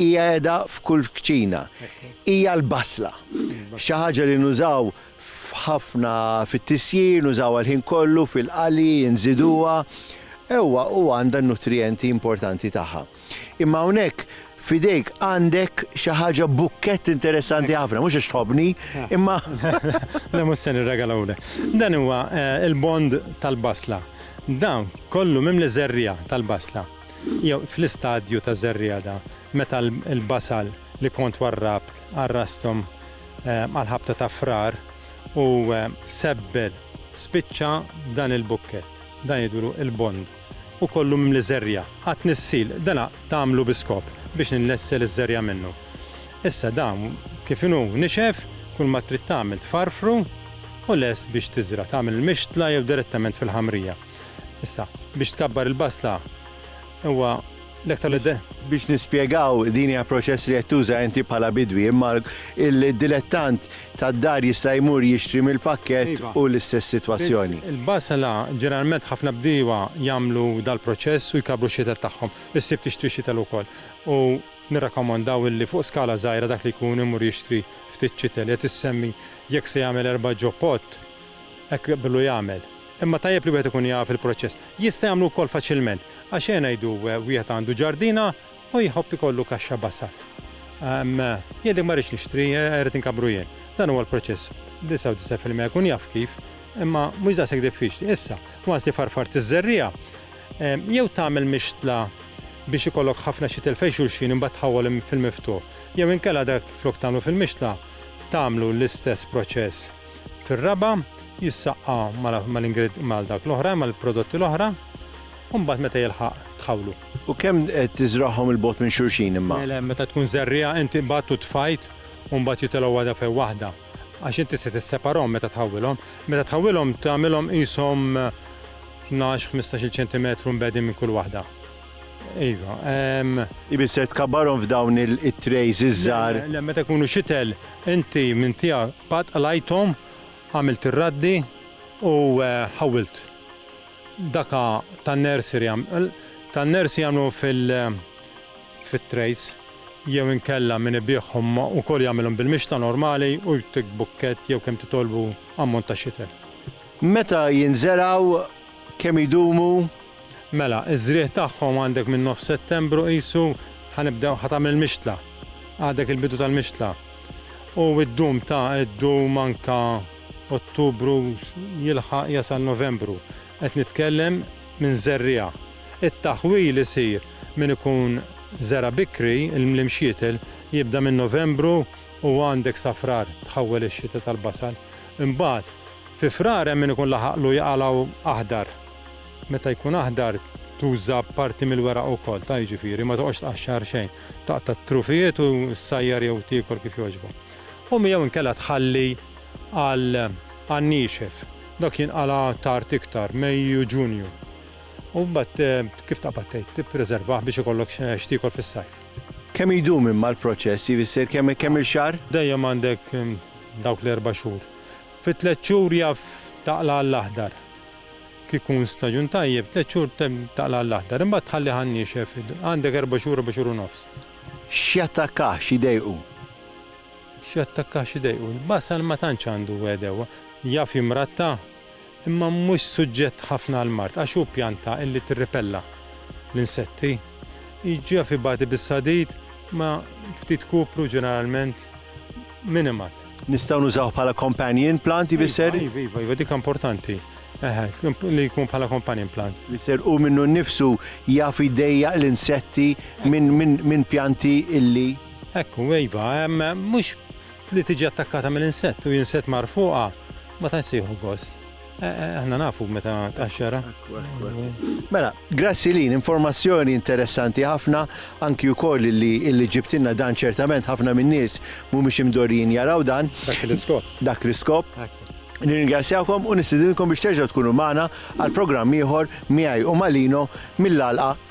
Hija qiegħda f'kull kċina. Hija l-basla. Xi ħaġa li nużaw f'ħafna fit-tisjir, nużawha l-ħin kollu fil-qali, inżiduha. Ewwa, u għandha n-nutrijenti importanti tagħha. Imma hawnhekk f'idejk għandek xi ħaġa bukkett interessanti ħafna, mhux għax tħobbni, imma. Le mhux se nirregalahulek. Dan huwa l-bond tal-basla. Dan kollu mimli żerriegħa tal-basla. Jew fl-istadju ta' żerriegħda, meta l-basal li kont warrab għal rasthom għall-ħabta ta' Frar u sebbel spiċċa dan il-bukkett, dan jgħidulu l-bond, u kollu mimli żerriegħa, għat-tnissil, dana tagħmlu bi skop biex innessel iż-żerriegħa minnu. Issa dan kif inhu nixef, kull ma trid tagħmel tfarrfru u lest biex tiżra', tagħmel il-mixtla jew direttament fil-ħamrija. Issa, biex tkabbar il-basla huwa l-aktar li Biex nispjegaw din hija proċess li qed tuża inti bħala bidwi, imma il-dilettant tad-dar jista' jmur jixtri mill-pakkett u l-istess sitwazzjoni. Il-basla, ġeneralment ħafna bdiewa jagħmlu dal-proċess u jkabbru x-xitel tagħhom. Issib tixtri xitel ukoll u nirrakkomandaw illi fuq skala żgħira dak li jkun imur jixtri ftit xitel. Qed issemmi jekk se jagħmel erba' ġo pot, hekk billu jagħmel. Imma tajjeb li wieħed ikun jaf il-proċess. Jista' jagħmlu wkoll faċilment. Għax eħe ngħidu wieħed għandu ġardina u jħobb ikollu kaxxa basal. Jgħidlek ma rridx nixtri, irrid inkabbru jien. Dan huwa l-proċess. 99 fil-mija jkun jaf kif, imma mhux daqshekk diffiċli. Issa, once li farfart iż-żerriegħa, jew tagħmel mixtla biex ikollok ħafna xitel fejn xulxin imbagħad tħawwol fil-miftuħ, jew inkella dak flok tagħmlu fil-mixtla, tagħmlu l-istess proċess. fir-raba' jissaqqa mal dak l-oħra, mal-prodotti l-oħra, u mbagħad meta jilħaq tħawlu. U kemm tiżragħhom 'il bogħod minn xulxin imma? Le, le, meta tkun żerriegħa inti qbadt u tfajt u mbagħad jitilgħu waħda fejn waħda, għax inti se tisseparahom meta tħawwilhom. Meta tħawwilhom tagħmilhom qishom tnax, ħmistax-il ċentimetru mbegħdin minn kull waħda. Iva. Ifisser tkabbarhom f'dawn it-trejs iż-żgħar. Le, le, meta jkunu xitel, Inti minn tiegħek qatt qlajthom, għamilt ir-raddi u ħawwilt. Daka tan-nursery tan-nursery jagħmlu fit-trays jew inkella min ibiegħhom ukoll jagħmilhom bil-mixtla normali u jtik bukkett jew kemm titolbu ammont ta' xitel. Meta jinżergħu, kemm idumu? Mela, iż-żrigħ tagħhom għandek minn nofs Settembru qisu, ħa nibdew, ħa tagħmel mixtla. Għadek il-bidu tal-mixtla. U ddum ta' ddum anke Ottubru jilħaq jasal Novembru. Qed nitkellem minn żerriegħa. It-taħwil isir min ikun żera' bikri l-mxietel jibda minn Novembru u għandek sa Frar tħawwel ix-xita tal-basal. Imbagħad, fi Frar hemm min ikun laħaqlu jaqalgħu aħdar. Meta jkun aħdar tuża parti mill-weraq ukoll, ta' jiġifieri ma toqgħodx tqaxxar xejn. Taqta' t-trufijiet u ssajjar jew tiekol kif jogħġbok. U mi jew inkella tħalli għal għan-niexef. Dak jinqala' tard iktar, Mejju, Ġunju. U mbagħad kif taqbad tgħid, tippreservah biex ikollok x'tiekol fis-sajf. Kemm idum imma l-proċess, jivisser kemm il-xahar? Dejjem għandek dawk l-erba' xhur. Fi tliet xhur jaf taqla' għall-aħdar. Kieku jkun staġun tajjeb, tliet xhur taqla' għall-aħdar. Imbagħad tħallih għan-niexef. Għandek erba' xhur, erba' xhur u nofs. X'jattakkaħ, x'iddejqu? X'jattakkaħ, x'iddejqu? Il-basal ma tantx għandu għedewwa. Jaf jimratta. imma mhux suġġett ħafna għal mard għax hu pjanta illi tirripella l-insetti. Jiġġiegħ f'ibati bis-sadid ma' ftit kupru ġeneralment minimat. Nistgħu nużawh bħala companion plant jbisser? Iva, iva, iva, iva, dik importanti. Eħe, li jkun bħala companion plant. Jbisser hu minnu nnifsu jaf jdejjaq l-insetti minn pjanti illi. Hekk hu, iva, mhux Li tiġi attakkata minn insett u jinsett mar fuqha ma tantx se jieħu gost. Aħna nafu meta tqaxxarha. Mela, grazzi Lynn, informazzjoni interessanti ħafna, anki wkoll li li ġibtilna dan ċertament ħafna min-nies mhumiex imdorrijin jaraw dan. Dak l-iskop. Dak l-iskop. Nirringrazzjawkom u nistidinkom biex terġgħu tkunu magħna għal programm ieħor miegħi u ma' Lino mill-għalqa